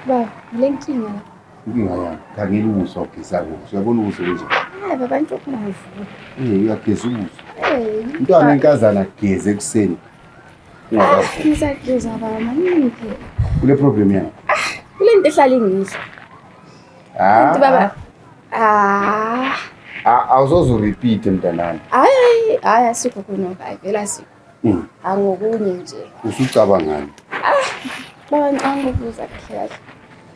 Baba, le nkinga la. Inkinga yami, khangela ubuso wageza kuso. Uyabona ubuso kunje? Eh, baba into kungavuka. Eh, uyageza ubuso. Eh, umntwana inkazana ageze ekuseni. Ngisaduza baba maningi phela. Kule problem yakho. Ah, kule nto ehlala ingizwa. Ah. Kanti baba. Ah. Ah, awuzoze urepeat mntanami. Hayi, hayi asikho khona baba, vela sikho. Mm. Angokunye nje. Usucabangani? Ah, baba ngicanga ukubuza kuhle.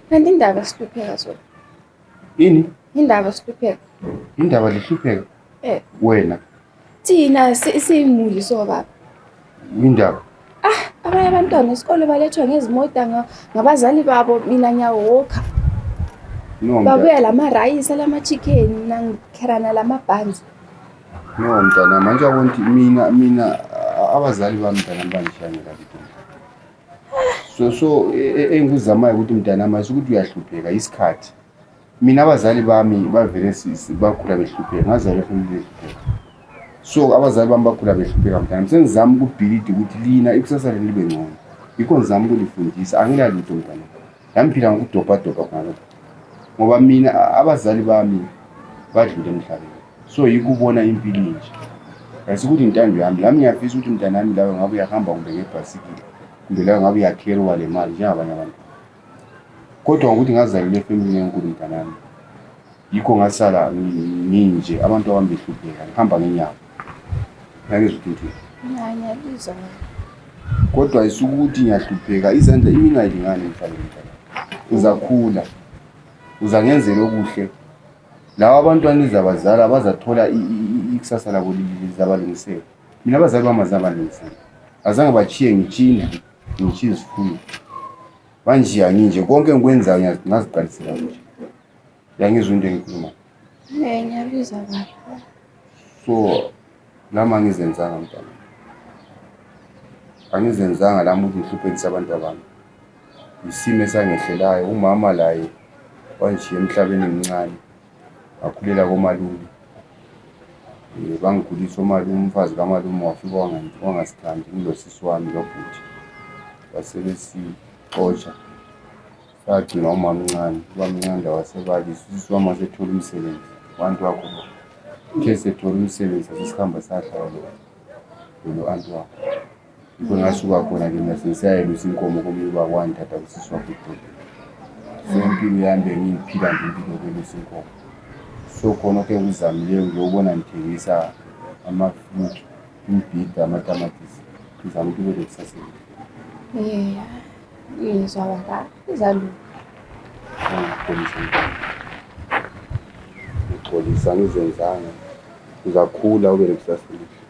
Kanti indaba sihlupheka so. Ini? Indaba sihlupheka. Indaba lihlupheka? Eh. Wena. Thina siyimuli sobaba. Indaba. Ah, abanye abantwana esikole balethwa ngezimoto ngabazali babo mina nyawoka. No. Babuya lama rice, lama chicken, nangikherana lama buns. No mntana, manje awonti mina mina abazali bami mntana bangishayela kabi. So so e, e, engikuzamayo ukuthi mntana mase ukuthi uyahlupheka isikhathi. Mina abazali bami bavele sisi bakhula behlupheka ngazalwa efamilini ehlupheka. So abazali bami bakhula behlupheka mntanami sengizama ukubhilida ukuthi lina ikusasa lenu libe ngcono. Yikho ngizama ukunifundisa angilalutho mntanami. Nami phila ngokudobhadobha khona ngoba mina abazali bami badlule emhlabeni. So yikho ubona impilo inje. Asikuthi intando yami lami ngiyafisa ukuthi mntanami lawe ngabe uyahamba kumbe ngebhasikile kumbe lawe ngabe uyakheriwa le mali njengabanye abantu. kodwa ukuthi ngazalelwa efemini enkulu mntanami yikho ngasala nginje abantu abami behlupheka ngihamba ngenyawo ngangizwa ukuthi ngiyabizwa kodwa isuke ukuthi ngiyahlupheka izandla imina ayilingani mfanele mntanami uzakhula uzangenzela okuhle lawa abantwana izabazala bazathola ikusasa labo lizabalungisela mina abazali bami azabalungisela azange bachiye ngitshina Ngisho izikhulu. Manje anginje konke engikwenzayo ngiyazi ngaziqalisela nje. Yangizwa into engikhuluma. Eh ngiyabizwa baba. So lama ngizenzanga mntana. Angizenzanga lama ukuthi ngihluphekise abantu abami. Isimo esangehlelayo umama laye wanje emhlabeni emncane. ngakhulela komalume um bangikhulisa omalume umfazi kamalume wafika wangasithandi ngilosisi wami lobhuti basebesixotsha sagcina umamncane ubamncane lawasebalisa usisi wami wasethola umsebenzi abantu wakho uthe sethole umsebenzi sesihamba sahlala lo anti wakho Ngikho ngasuka khona ke mina sengisayelusa inkomo komunye ubaba wangithatha kusisi wakho udoti so impilo yami bengiyiphila nje impilo yokelusa inkomo so khona ke ngizamileyo ngiyobona ngithengisa ama-fruit umbhida amatamatisi ngizama ukuthi kube lekusasa elihle. Eh, ngizwa baba izalunga ngixolisa mntwana ngixolisa angizenzanga uzakhula ube lekusasa elihle